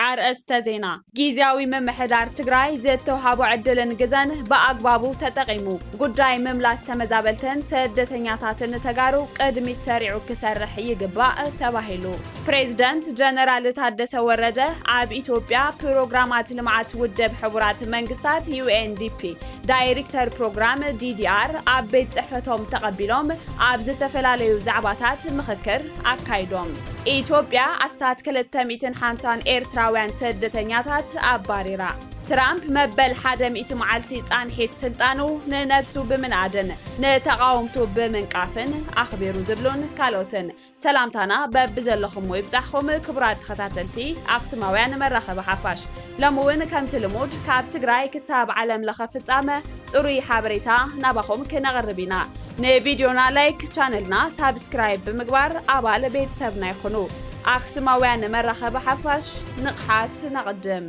ኣርእስተ ዜና ጊዜያዊ ምምሕዳር ትግራይ ዝተውሃቦ ዕድልን ግዘን ብኣግባቡ ተጠቒሙ ጉዳይ ምምላስ ተመዛበልትን ስደተኛታትን ተጋሩ ቅድሚት ሰሪዑ ክሰርሕ ይግባእ ተባሂሉ። ፕሬዝደንት ጀነራል ታደሰ ወረደ ኣብ ኢትዮጵያ ፕሮግራማት ልምዓት ውደብ ሕቡራት መንግስታት ዩኤንዲፒ ዳይሪክተር ፕሮግራም ዲዲኣር ኣብ ቤት ፅሕፈቶም ተቐቢሎም ኣብ ዝተፈላለዩ ዛዕባታት ምኽክር ኣካይዶም። ኢትዮጵያ ኣስታት ክልተ ሚእትን ሓምሳን ኤርትራውያን ስደተኛታት ኣባሪራ። ትራምፕ መበል ሓደ ሚእቲ መዓልቲ ፃንሒት ስልጣኑ ንነብሱ ብምንኣድን ንተቓወምቱ ብምንቃፍን ኣኽቢሩ ዝብሉን ካልኦትን ሰላምታና በብዘለኹሞ ይብጻሕኹም ክቡራት ተኸታተልቲ ኣኽሱማውያን መራኸቢ ሓፋሽ። ሎሚ እውን ከምቲ ልሙድ ካብ ትግራይ ክሳብ ዓለም ለኸ ፍጻመ ጽሩይ ሓበሬታ ናባኹም ክነቕርብ ኢና። ንቪድዮና ላይክ፣ ቻነልና ሳብስክራይብ ብምግባር ኣባል ቤተሰብና ይኹኑ። ኣኽሱማውያን መራኸቢ ሓፋሽ ንቕሓት ነቕድም!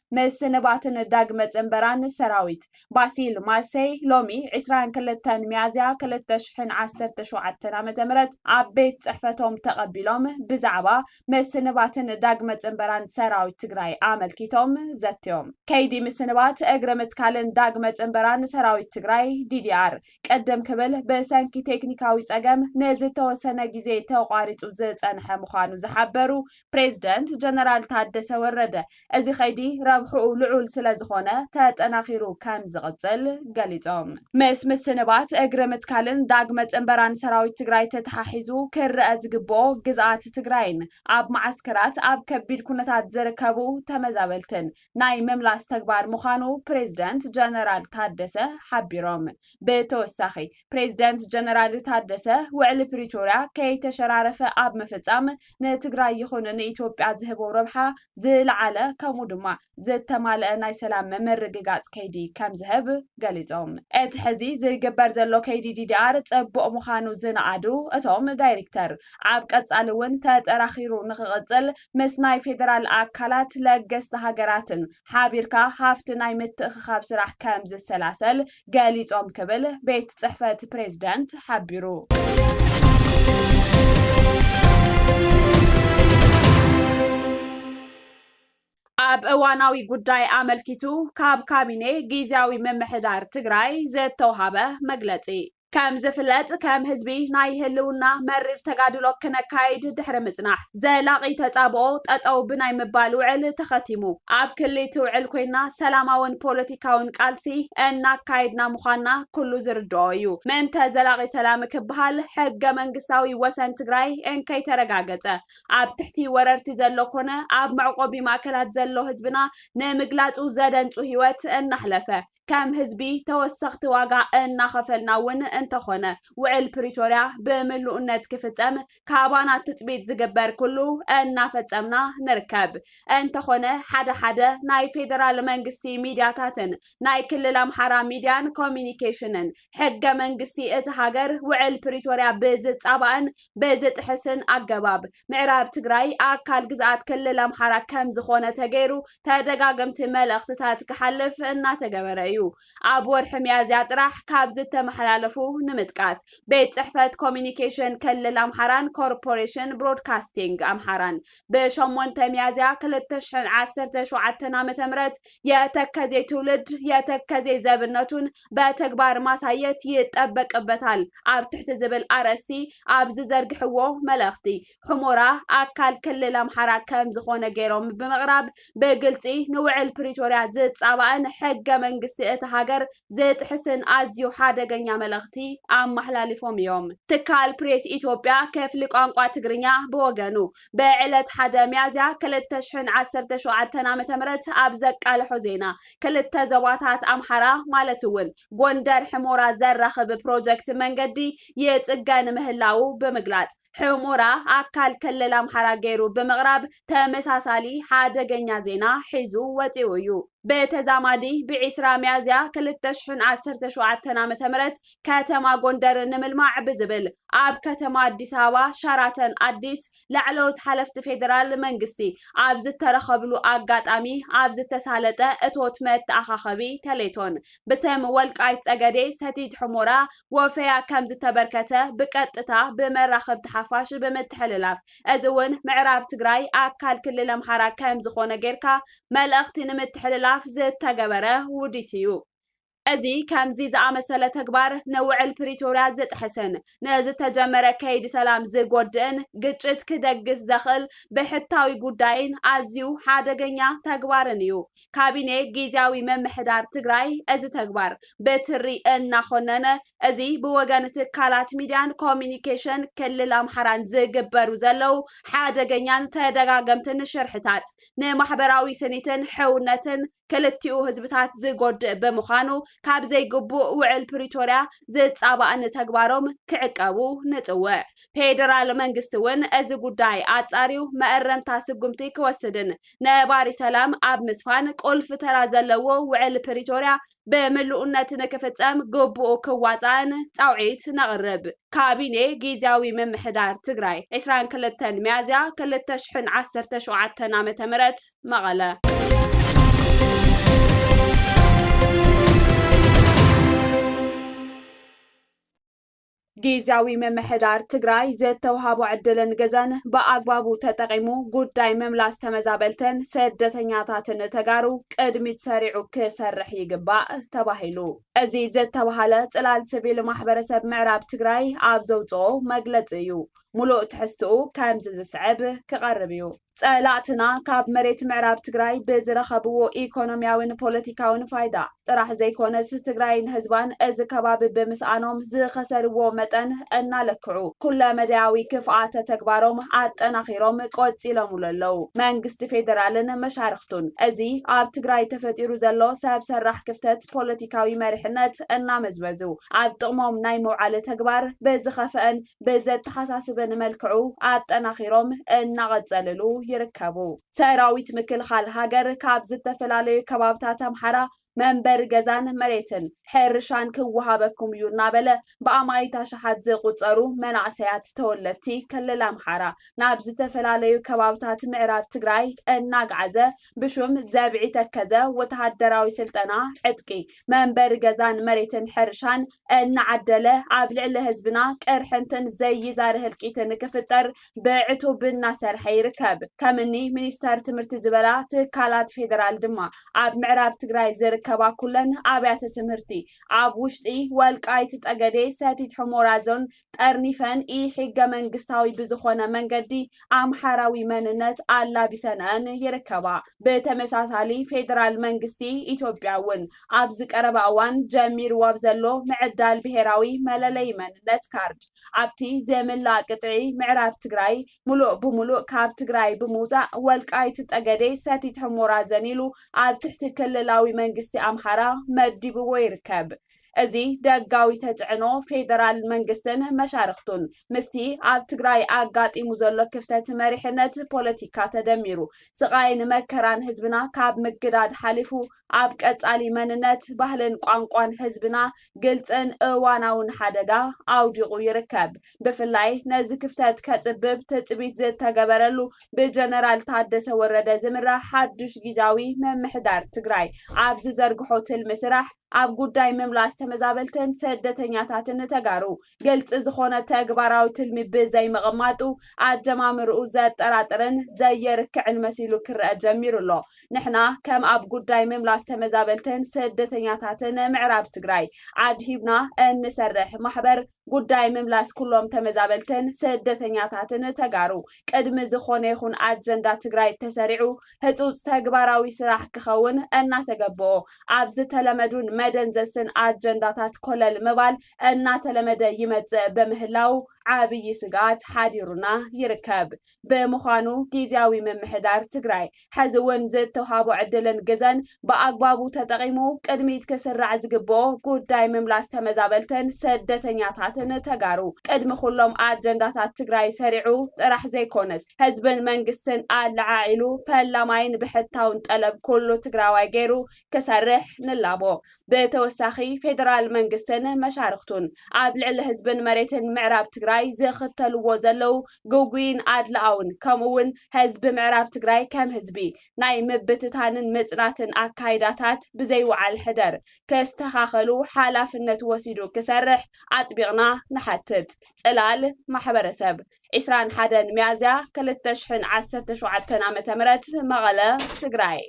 ምስንባትን ዳግመ ጽንበራን ሰራዊት ባሲል ማሰይ ሎሚ ዕስራን ክልተን ሚያዝያ ክልተ ሽሕን ዓሰርተ ሸውዓተን ዓመተ ምህረት ኣብ ቤት ጽሕፈቶም ተቐቢሎም ብዛዕባ ምስንባትን ዳግመ ጽንበራን ሰራዊት ትግራይ ኣመልኪቶም ዘትዮም። ከይዲ ምስንባት፣ እግሪ ምትካልን ዳግመ ጽንበራን ሰራዊት ትግራይ ዲዲኣር ቅድም ክብል ብሰንኪ ቴክኒካዊ ጸገም ንዝተወሰነ ግዜ ተቋሪጹ ዝጸንሐ ምዃኑ ዝሓበሩ ፕሬዝደንት ጀነራል ታደሰ ወረደ፣ እዚ ከይዲ ረብሕኡ ልዑል ስለዝኾነ ተጠናኺሩ ከምዝቕፅል ገሊፆም። ምስ ምስንባት፣ እግሪ ምትካልን ዳግመ ፅንበራን ሰራዊት ትግራይ ተተሓሒዙ ክረኣ ዝግበኦ ግዝኣት ትግራይን ኣብ መዓስከራት ኣብ ከቢድ ኩነታት ዝርከቡ ተመዛበልትን ናይ ምምላስ ተግባር ምዃኑ ፕሬዝደንት ጀነራል ታደሰ ሓቢሮም። ብተወሳኺ ፕሬዝደንት ጀነራል ታደሰ ውዕሊ ፕሪቶርያ ከይተሸራረፈ ኣብ ምፍፃም ንትግራይ ይኹን ንኢትዮጵያ ዝህቦ ረብሓ ዝለዓለ ከምኡ ድማ ዝተማለኣ ናይ ሰላም ምርግጋፅ ከይዲ ከምዝህብ ገሊፆም። እቲ ሕዚ ዝግበር ዘሎ ከይዲ ዲዲኣር ፅቡቕ ምዃኑ ዝነኣዱ እቶም ዳይሪክተር፣ ኣብ ቀፃሊ እውን ተጠራኺሩ ንክቕፅል ምስ ናይ ፌደራል ኣካላት ለገስቲ ሃገራትን ሓቢርካ ሃፍቲ ናይ ምትእኽኻብ ስራሕ ከምዝሰላሰል ገሊፆም ክብል ቤት ፅሕፈት ፕሬዝደንት ሓቢሩ። ኣብ እዋናዊ ጉዳይ ኣመልኪቱ ካብ ካቢኔ ጊዜያዊ ምምሕዳር ትግራይ ዝተውሃበ መግለፂ ከም ዝፍለጥ ከም ህዝቢ ናይ ህልውና መሪር ተጋድሎ ክነካይድ ድሕሪ ምፅናሕ ዘላቒ ተፃብኦ ጠጠው ብናይ ምባል ውዕል ተኸቲሙ ኣብ ክሊ እቲ ውዕል ኮይና ሰላማውን ፖለቲካውን ቃልሲ እናካየድና ምዃንና ኩሉ ዝርድኦ እዩ። ምእንተ ዘላቒ ሰላም ክበሃል ሕገ መንግስታዊ ወሰን ትግራይ እንከይተረጋገፀ ኣብ ትሕቲ ወረርቲ ዘሎ ኮነ ኣብ መዕቖቢ ማእከላት ዘሎ ህዝብና ንምግላፁ ዘደንፁ ህይወት እናሕለፈ ከም ህዝቢ ተወሰኽቲ ዋጋ እናኸፈልና እውን እንተኾነ ውዕል ፕሪቶርያ ብምሉእነት ክፍፀም ካባና ትፅቢት ዝግበር ኩሉ እናፈፀምና ንርከብ። እንተኾነ ሓደ ሓደ ናይ ፌደራል መንግስቲ ሚድያታትን ናይ ክልል ኣምሓራ ሚድያን ኮሚኒኬሽንን ሕገ መንግስቲ እቲ ሃገር ውዕል ፕሪቶርያ ብዝፃባእን ብዝጥሕስን ኣገባብ ምዕራብ ትግራይ ኣካል ግዝኣት ክልል ኣምሓራ ከምዝኾነ ተገይሩ ተደጋገምቲ መልእኽትታት ክሓልፍ እናተገበረ እዩ። ኣብ ወርሒ ሚያዝያ ጥራሕ ካብ ዝተመሓላለፉ ንምጥቃስ ቤት ፅሕፈት ኮሚኒኬሽን ክልል ኣምሓራን ኮርፖሬሽን ብሮድካስቲንግ ኣምሓራን ብሸሞንተ ሚያዝያ ክልተ ሽሕን ዓሰርተ ሸውዓተን ዓመተ ምህረት የተከዜ ትውልድ የተከዜ ዘብነቱን በተግባር ማሳየት ይጠበቅበታል ኣብ ትሕቲ ዝብል ኣርእስቲ ኣብ ዝዘርግሕዎ መልእኽቲ፣ ሑሞራ ኣካል ክልል ኣምሓራ ከም ዝኾነ ገይሮም ብምቕራብ ብግልፂ ንውዕል ፕሪቶርያ ዝፃባእን ሕገ መንግስቲ እታ ሃገር ዝጥሕስን ኣዝዩ ሓደገኛ መልእኽቲ ኣመሓላሊፎም እዮም። ትካል ፕሬስ ኢትዮጵያ ክፍሊ ቋንቋ ትግርኛ ብወገኑ፣ ብዕለት ሓደ ሚያዝያ ክልተ ሽሕን ዓሰርተ ሸውዓተን ዓመተ ምህረት ኣብ ዘቃልሖ ዜና፣ ክልተ ዞባታት ኣምሓራ ማለት እውን ጎንደር ሕሞራ ዘራኽብ ፕሮጀክት መንገዲ ይፅገን ምህላዉ ብምግላፅ፣ ሕሞራ ኣካል ክልል ኣምሓራ ገይሩ ብምቕራብ ተመሳሳሊ ሓደገኛ ዜና ሒዙ ወፂኡ እዩ። ብተዛማዲ ብዒስራ ሚያዝያ ክልተ ሽሕን ዓሰርተ ሸውዓተን ዓመተ ምህረት ከተማ ጎንደር ንምልማዕ ብዝብል ኣብ ከተማ ኣዲስ ኣበባ ሸራተን ኣዲስ ላዕለዎት ሓለፍቲ ፌዴራል መንግስቲ ኣብ ዝተረኸብሉ ኣጋጣሚ ኣብ ዝተሳለጠ እቶት መተኣኻኸቢ ተሌቶን ብስም ወልቃይት ፀገዴ ሰቲት ሑሞራ ወፈያ ከምዝተበርከተ ብቀጥታ ብመራኸብቲ ሓፋሽ ብምትሕልላፍ እዚ እውን ምዕራብ ትግራይ ኣካል ክልል ኣምሓራ ከምዝኾነ ገይርካ መልእኽቲ ንምትሕልላፍ ዝተገበረ ውዲት እዩ። እዚ ከምዚ ዝኣመሰለ ተግባር ንውዕል ፕሪቶርያ ዝጥሕስን ንዝተጀመረ ከይዲ ሰላም ዝጎድእን ግጭት ክደግስ ዘኽእል ብሕታዊ ጉዳይን ኣዝዩ ሓደገኛ ተግባርን እዩ። ካቢኔ ጊዚያዊ ምምሕዳር ትግራይ እዚ ተግባር ብትሪ እናኾነነ እዚ ብወገን ትካላት ሚዲያን ኮሚኒኬሽን ክልል ኣምሓራን ዝግበሩ ዘለው ሓደገኛን ተደጋገምትን ሽርሕታት ንማሕበራዊ ስኒትን ሕውነትን ክልቲኡ ህዝብታት ዝጎድእ ብምዃኑ ካብ ዘይግቡእ ውዕል ፕሪቶርያ ዝፃባእ ንተግባሮም ክዕቀቡ ንፅውዕ። ፌዴራል መንግስቲ እውን እዚ ጉዳይ ኣፃርዩ መእረምታ ስጉምቲ ክወስድን ነባሪ ሰላም ኣብ ምስፋን ቁልፊ ተራ ዘለዎ ውዕል ፕሪቶርያ ብምሉእነት ንክፍፀም ግቡኡ ክዋፃእን ፃውዒት ነቕርብ። ካቢኔ ጊዚያዊ ምምሕዳር ትግራይ፣ ዕስራን ክልተን ሚያዝያ ክልተ ሽሕን ዓሰርተ ሸውዓተን ዓ ም መቐለ። ጊዚያዊ ምምሕዳር ትግራይ ዝተውሃቦ ዕድልን ግዘን ብኣግባቡ ተጠቒሙ ጉዳይ ምምላስ ተመዛበልትን ስደተኛታትን ተጋሩ ቅድሚት ሰሪዑ ክሰርሕ ይግባእ ተባሂሉ። እዚ ዝተብሃለ ፅላል ስቪል ማሕበረሰብ ምዕራብ ትግራይ ኣብ ዘውፅኦ መግለፂ እዩ። ሙሉእ ትሕዝትኡ ከምዚ ዝስዕብ ክቐርብ እዩ። ፀላእትና ካብ መሬት ምዕራብ ትግራይ ብዝረኸብዎ ኢኮኖሚያዊን ፖለቲካዊን ፋይዳ ጥራሕ ዘይኮነስ ትግራይን ህዝባን እዚ ከባቢ ብምስኣኖም ዝኸሰርዎ መጠን እናለክዑ ኩለ መዳያዊ ክፍኣተ ተግባሮም ኣጠናኺሮም ቆፂሎምሉ ኣለው። መንግስቲ ፌዴራልን መሻርኽቱን እዚ ኣብ ትግራይ ተፈጢሩ ዘሎ ሰብ ሰራሕ ክፍተት ስርዓት ፖለቲካዊ መሪሕነት እናመዝመዙ ኣብ ጥቕሞም ናይ ምውዓል ተግባር ብዝኸፈኣን ብዘተሓሳስብን መልክዑ ኣጠናኺሮም እናቐፀልሉ ይርከቡ። ሰራዊት ምክልኻል ሃገር ካብ ዝተፈላለዩ ከባብታት ኣምሓራ መንበሪ ገዛን መሬትን ሕርሻን ክወሃበኩም እዩ እናበለ ብኣማኢት ኣሽሓት ዝቑፀሩ መናእሰያት ተወለድቲ ክልል ኣምሓራ ናብ ዝተፈላለዩ ከባብታት ምዕራብ ትግራይ እናግዓዘ ብሹም ዘብዒ ተከዘ ወተሃደራዊ ስልጠና፣ ዕጥቂ፣ መንበሪ ገዛን መሬትን ሕርሻን እናዓደለ ኣብ ልዕሊ ህዝብና ቅርሕንትን ዘይዛሪ ህልቂት ንክፍጠር ብዕቱብ እናሰርሐ ይርከብ። ከምኒ ሚኒስተር ትምህርቲ ዝበላ ትካላት ፌደራል ድማ ኣብ ምዕራብ ትግራይ ዝርከባ ኩለን ኣብያተ ትምህርቲ ኣብ ውሽጢ ወልቃይት ጠገዴ፣ ሰቲት ሑሞራ ዞን፣ ጠርኒፈን ኢ-ሕገ መንግስታዊ ብዝኾነ መንገዲ ኣምሓራዊ መንነት ኣላቢሰንኣን ይርከባ። ብተመሳሳሊ ፌደራል መንግስቲ ኢትዮጵያ እውን ኣብዚ ቀረባ እዋን ጀሚርዎ ኣብ ዘሎ ምዕዳል ብሄራዊ መለለዪ መንነት ካርድ ኣብቲ ዝምላእ ቅጥዒ ምዕራብ ትግራይ ሙሉእ ብሙሉእ ካብ ትግራይ ብምውፃእ ወልቃይት ጠገዴ ሰቲት ሑሞራ ዘኒሉ ኣብ ትሕቲ ክልላዊ መንግስቲ ኣምሓራ መዲብዎ ይርከብ። እዚ ደጋዊ ተፅዕኖ ፌደራል መንግስትን መሻርኽቱን ምስቲ ኣብ ትግራይ ኣጋጢሙ ዘሎ ክፍተት መሪሕነት ፖለቲካ ተደሚሩ ስቓይን መከራን ህዝብና ካብ ምግዳድ ሓሊፉ ኣብ ቀፃሊ መንነት፣ ባህልን ቋንቋን ህዝብና ግልፅን እዋናውን ሓደጋ ኣውዲቑ ይርከብ። ብፍላይ ነዚ ክፍተት ከፅብብ ትፅቢት ዝተገበረሉ ብጀነራል ታደሰ ወረደ ዝምራሕ ሓዱሽ ጊዚያዊ ምምሕዳር ትግራይ ኣብ ዝዘርግሖ ትልሚ ስራሕ፣ ኣብ ጉዳይ ምምላስ ተመዛበልትን ሰደተኛታትን ተጋሩ ግልፂ ዝኾነ ተግባራዊ ትልሚ ብዘይምቕማጡ ኣጀማምርኡ ዘጠራጥርን ዘየርክዕን መሲሉ ክረኣ ጀሚሩ ኣሎ። ንሕና ከም ኣብ ጉዳይ ምምላስ ተመዛበልትን ስደተኛታትን ምዕራብ ትግራይ ኣድሂብና እንሰርሕ ማሕበር ጉዳይ ምምላስ ኩሎም ተመዛበልትን ስደተኛታትን ተጋሩ ቅድሚ ዝኾነ ይኹን ኣጀንዳ ትግራይ ተሰሪዑ ህፁፅ ተግባራዊ ስራሕ ክኸውን እናተገበኦ ኣብ ዝተለመዱን መደንዘዝትን ኣጀንዳታት ኮለል ምባል እናተለመደ ይመፅእ በምህላው ዓብዪ ስግኣት ሓዲሩና ይርከብ። ብምዃኑ ጊዚያዊ ምምሕዳር ትግራይ ሐዚ እውን ዝተውሃቦ ዕድልን ግዘን ብኣግባቡ ተጠቒሙ ቅድሚት ክስራዕ ዝግበኦ ጉዳይ ምምላስ ተመዛበልትን ስደተኛታትን ተጋሩ ቅድሚ ኩሎም ኣጀንዳታት ትግራይ ሰሪዑ ጥራሕ ዘይኮነስ ህዝብን መንግስትን ኣለዓዒሉ ፈላማይን ብሕታውን ጠለብ ኩሉ ትግራዋይ ገይሩ ክሰርሕ ንላቦ። ብተወሳኺ ፌደራል መንግስትን መሻርኽቱን ኣብ ልዕሊ ህዝብን መሬትን ምዕራብ ትግራይ ዝኽተልዎ ዘለዉ ግጉይን ኣድላኣውን ከምኡ እውን ህዝቢ ምዕራብ ትግራይ ከም ህዝቢ ናይ ምብትታንን ምፅናትን ኣካይዳታት ብዘይውዓል ሕደር ክስተኻኸሉ ሓላፍነት ወሲዱ ክሰርሕ ኣጥቢቕና ንሓትት። ፅላል ማሕበረሰብ ዕስራን ሓደን ሚያዝያ ክልተ ሽሕን ዓሰርተ ሸውዓተን ዓመተ ምህረት መቐለ ትግራይ።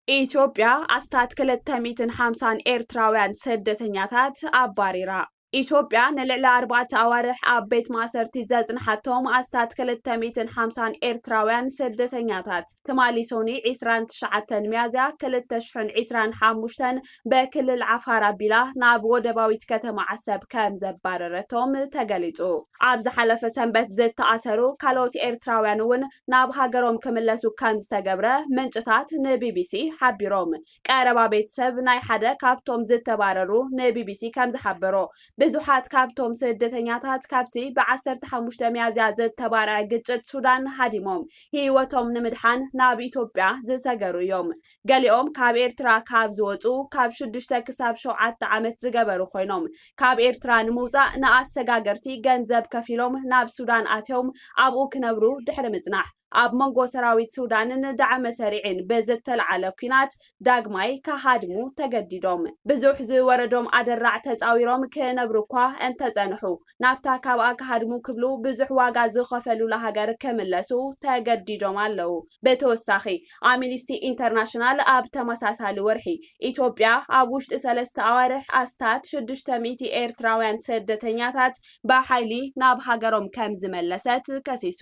ኢትዮጵያ ኣስታት ክልተ ሚእትን ሓምሳን ኤርትራውያን ስደተኛታት ኣባሪራ። ኢትዮጵያ ንልዕሊ ኣርባዕተ ኣዋርሕ ኣብ ቤት ማእሰርቲ ዘጽንሓቶም ኣስታት ክልተ ሚእትን ሓምሳን ኤርትራውያን ስደተኛታት ትማሊ ሶኒ ዕስራን ትሽዓተን ሚያዝያ ክልተ ሽሕን ዕስራን ሓሙሽተን በክልል ዓፋር ኣቢላ ናብ ወደባዊት ከተማ ዓሰብ ከም ዘባረረቶም ተገሊጹ። ኣብ ዝሓለፈ ሰንበት ዝተኣሰሩ ካልኦት ኤርትራውያን እውን ናብ ሃገሮም ክምለሱ ከም ዝተገብረ ምንጭታት ንቢቢሲ ሓቢሮም። ቀረባ ቤተሰብ ናይ ሓደ ካብቶም ዝተባረሩ ንቢቢሲ ከምዝሓበሮ፣ ብዙሓት ካብቶም ስደተኛታት ካብቲ ብ ዓሰርተ ሓሙሽተ ሚያዝያ ዝተባረዐ ግጭት ሱዳን ሃዲሞም ህይወቶም ንምድሓን ናብ ኢትዮጵያ ዝሰገሩ እዮም። ገሊኦም ካብ ኤርትራ ካብ ዝወጹ ካብ ሽዱሽተ ክሳብ ሸውዓተ ዓመት ዝገበሩ ኮይኖም፣ ካብ ኤርትራ ንምውጻእ ንኣሰጋገርቲ ገንዘብ ከፊሎም ናብ ሱዳን ኣትዮም ኣብኡ ክነብሩ ድሕሪ ምጽናሕ፣ ኣብ መንጎ ሰራዊት ሱዳንን ዳዕመ ሰሪዕን ብዝተልዓለ ኲናት ዳግማይ ክሃድሙ ተገዲዶም። ብዙሕ ዝወረዶም ኣደራዕ ተጻዊሮም ክነብሩ'ኳ እንተጸንሑ፣ ናብታ ካብኣ ክሃድሙ ክብሉ ብዙሕ ዋጋ ዝኸፈሉላ ሃገር ክምለሱ ተገዲዶም ኣለዉ። ብተወሳኺ፣ ኣሚኒስቲ ኢንተርናሽናል ኣብ ተመሳሳሊ ወርሒ፣ ኢትዮጵያ ኣብ ውሽጢ ሰለስተ ኣዋርሕ ኣስታት ሽዱሽተ ሚእቲ ኤርትራውያን ስደተኛታት ብሓይሊ ናብ ሃገሮም ከምዝመለሰት ከሲሱ።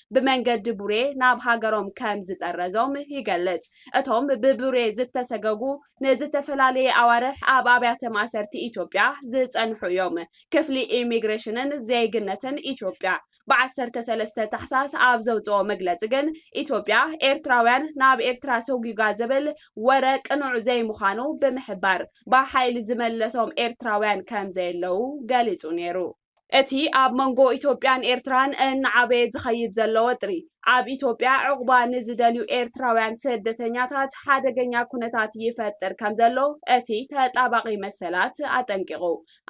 ብመንገዲ ቡሬ ናብ ሃገሮም ከም ዝጠረዞም ይገልጽ። እቶም ብቡሬ ዝተሰገጉ ንዝተፈላለየ ኣዋርሕ ኣብ ኣብያተ ማእሰርቲ ኢትዮጵያ ዝጸንሑ እዮም። ክፍሊ ኢሚግሬሽንን ዜግነትን ኢትዮጵያ ብ ዓሰርተ ሰለስተ ታሕሳስ ኣብ ዘውጽኦ መግለጺ ግን ኢትዮጵያ ኤርትራውያን ናብ ኤርትራ ሰጒጓ ዝብል ወረ ቅኑዕ ዘይምዃኑ ብምሕባር ብሓይሊ ዝመለሶም ኤርትራውያን ከም ዘየለዉ ገሊጹ ነይሩ። እቲ ኣብ መንጎ ኢትዮጵያን ኤርትራን እናዓበየ ዝኸይድ ዘሎ ወጥሪ፣ ኣብ ኢትዮጵያ ዑቕባ ንዝደልዩ ኤርትራውያን ስደተኛታት ሓደገኛ ኩነታት ይፈጥር ከምዘሎ እቲ ተጣባቒ መሰላት ኣጠንቂቑ።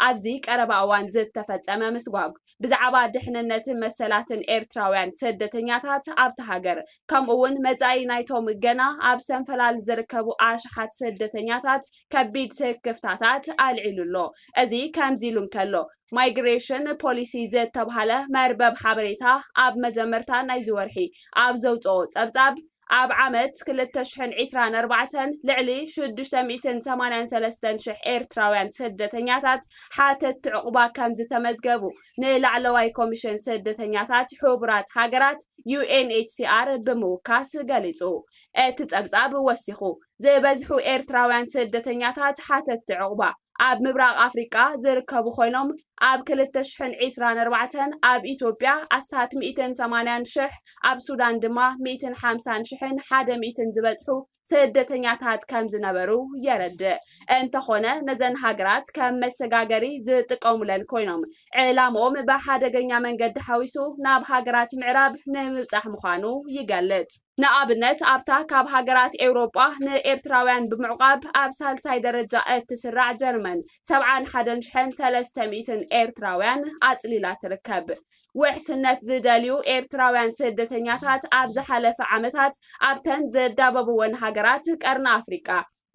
ኣብዚ ቀረባ እዋን ዝተፈጸመ ምስጓግ፣ ብዛዕባ ድሕንነትን መሰላትን ኤርትራውያን ስደተኛታት ኣብታ ሃገር፣ ከምኡ'ውን መጻኢ ናይቶም ገና ኣብ ሰንፈላል ዝርከቡ ኣሽሓት ስደተኛታት ከቢድ ስክፍታታት ኣልዒሉ ኣሎ። እዚ ከምዚሉ እንከሎ፣ ማይግሬሽን ፖሊሲ ዝተብሃለ መርበብ ሓበሬታ ኣብ መጀመርታ ናይዚ ወርሒ ኣብ ዘውጽኦ ጸብጻብ፣ ኣብ ዓመት ክልተ ሽሕን ዒስራን ኣርባዕተን ልዕሊ ሽዱሽተ ሚእትን ሰማንያን ሰለስተን ሽሕ ኤርትራውያን ስደተኛታት ሓተትቲ ዑቕባ ከምዝተመዝገቡ ንላዕለዋይ ኮሚሽን ስደተኛታት ሕቡራት ሃገራት፣ UNHCR፣ ብምውካስ ገሊጹ። እቲ ጸብጻብ ወሲኹ፣ ዝበዝሑ ኤርትራውያን ስደተኛታት ሓተትቲ ዑቕባ፣ ኣብ ምብራቕ ኣፍሪቃ ዝርከቡ ኮይኖም፣ ኣብ ክልተ ሽሕን ዒስራን ኣርባዕተን ኣብ ኢትዮጵያ ኣስታት ሚእትን ሰማንያን ሽሕ፣ ኣብ ሱዳን ድማ ሚእትን ሓምሳን ሽሕን ሓደ ሚእትን ዝበጽሑ ስደተኛታት ከምዝነበሩ የረድእ። እንተኾነ ነዘን ሃገራት ከም መሰጋገሪ ዝጥቀሙለን ኮይኖም፣ ዕላምኦም ብሓደገኛ መንገዲ ሓዊሱ ናብ ሃገራት ምዕራብ ንምብጻሕ ምዃኑ ይገልጽ። ንኣብነት ኣብታ ካብ ሃገራት ኤውሮጳ ንኤርትራውያን ብምዕቛብ ኣብ ሳልሳይ ደረጃ እትስራዕ ጀርመን ሰብዓን ሓደን ሽሕን ሰለስተ ሚእትን ኤርትራውያን ኣጽሊላ ትርከብ። ውሕስነት ዝደልዩ ኤርትራውያን ስደተኛታት ኣብ ዝሓለፈ ዓመታት ኣብተን ዝዳበብወን ሃገራት ቀርኒ ኣፍሪቃ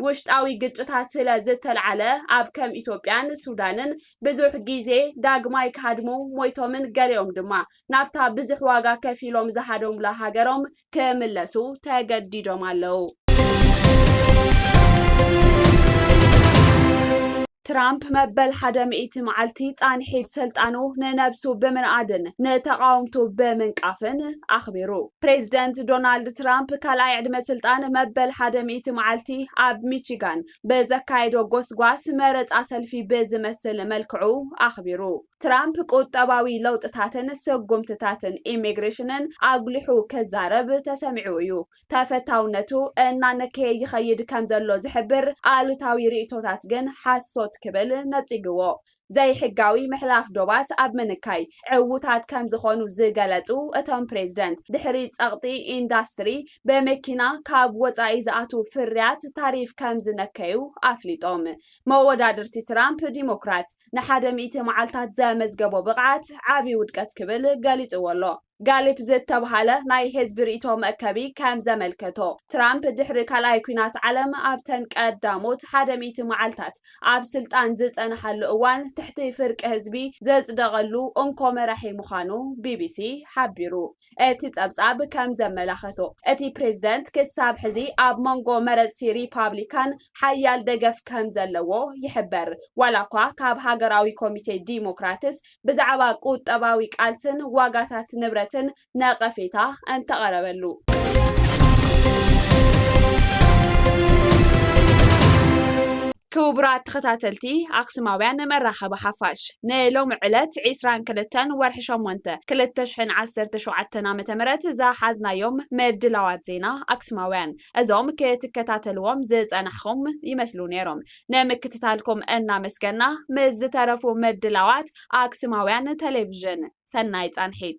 ውሽጣዊ ግጭታት ስለ ዝተልዓለ ኣብ ከም ኢትዮጵያን ሱዳንን ብዙሕ ግዜ ዳግማይ ክሃድሙ ሞይቶምን ገሊኦም ድማ ናብታ ብዝሕ ዋጋ ከፊሎም ዝሃደሙላ ሃገሮም ክምለሱ ተገዲዶም ኣለዉ። ትራምፕ መበል ሓደ ሚእቲ መዓልቲ ፃንሒት ስልጣኑ ንነብሱ ብምንኣድን ንተቓወምቱ ብምንቃፍን ኣኽቢሩ። ፕሬዚደንት ዶናልድ ትራምፕ ካልኣይ ዕድመ ስልጣን መበል ሓደ ሚእቲ መዓልቲ ኣብ ሚቺጋን ብዘካየዶ ጎስጓስ መረፃ ሰልፊ ብዝመስል መልክዑ ኣኽቢሩ። ትራምፕ ቁጠባዊ ለውጥታትን ስጉምትታትን ኢሚግሬሽንን ኣጉሊሑ ክዛረብ ተሰሚዑ እዩ። ተፈታውነቱ እናነከየ ይኸይድ ከምዘሎ ዝሕብር ኣሉታዊ ርኢቶታት ግን ሓሶት ክብል ነጺግዎ። ዘይሕጋዊ ምሕላፍ ዶባት ኣብ ምንካይ ዕዉታት ከምዝኾኑ ዝገለጹ እቶም ፕሬዝደንት፣ ድሕሪ ጸቕጢ ኢንዳስትሪ ብመኪና ካብ ወጻኢ ዝኣትዉ ፍርያት ታሪፍ ከምዝነከዩ ኣፍሊጦም። መወዳድርቲ ትራምፕ፣ ዲሞክራት፣ ንሓደ ሚእቲ መዓልታት ዘመዝገቦ ብቕዓት ዓቢ ውድቀት ክብል ገሊጽዎ ኣሎ። ጋሊፕ ዝተብሃለ ናይ ህዝቢ ርእይቶ መእከቢ ከም ዘመልከቶ፣ ትራምፕ ድሕሪ ካልኣይ ኲናት ዓለም ኣብተን ቀዳሞት ሓደ ሚእቲ መዓልታት ኣብ ስልጣን ዝጸንሓሉ እዋን ትሕቲ ፍርቂ ህዝቢ ዘጽደቐሉ እንኮ መራሒ ምዃኑ ቢቢሲ ሓቢሩ። እቲ ጸብጻብ ከም ዘመላኸቶ፣ እቲ ፕሬዝደንት ክሳብ ሕዚ ኣብ መንጎ መረጽቲ ሪፓብሊካን ሓያል ደገፍ ከም ዘለዎ ይሕበር፣ ዋላኳ ካብ ሃገራዊ ኮሚቴ ዲሞክራትስ ብዛዕባ ቁጠባዊ ቃልስን ዋጋታት ንብረትን ነቐፌታ እንተቐረበሉ። ክቡራት ተኸታተልቲ ኣክሱማውያን መራኸቢ ሓፋሽ ንሎሚ ዕለት ዒስራን ክልተን ወርሒ ሸሞንተ ክልተ ሽሕን ዓሰርተ ሸውዓተን ዓመተ ምህረት ዝሓዝናዮም ምድላዋት ዜና ኣክሱማውያን እዞም ክትከታተልዎም ዝጸናሕኹም ይመስሉ ነይሮም። ንምክትታልኩም እናመስገና ምስ ዝተረፉ ምድላዋት ኣክስማውያን ቴሌቭዥን ሰናይ ፃንሒት።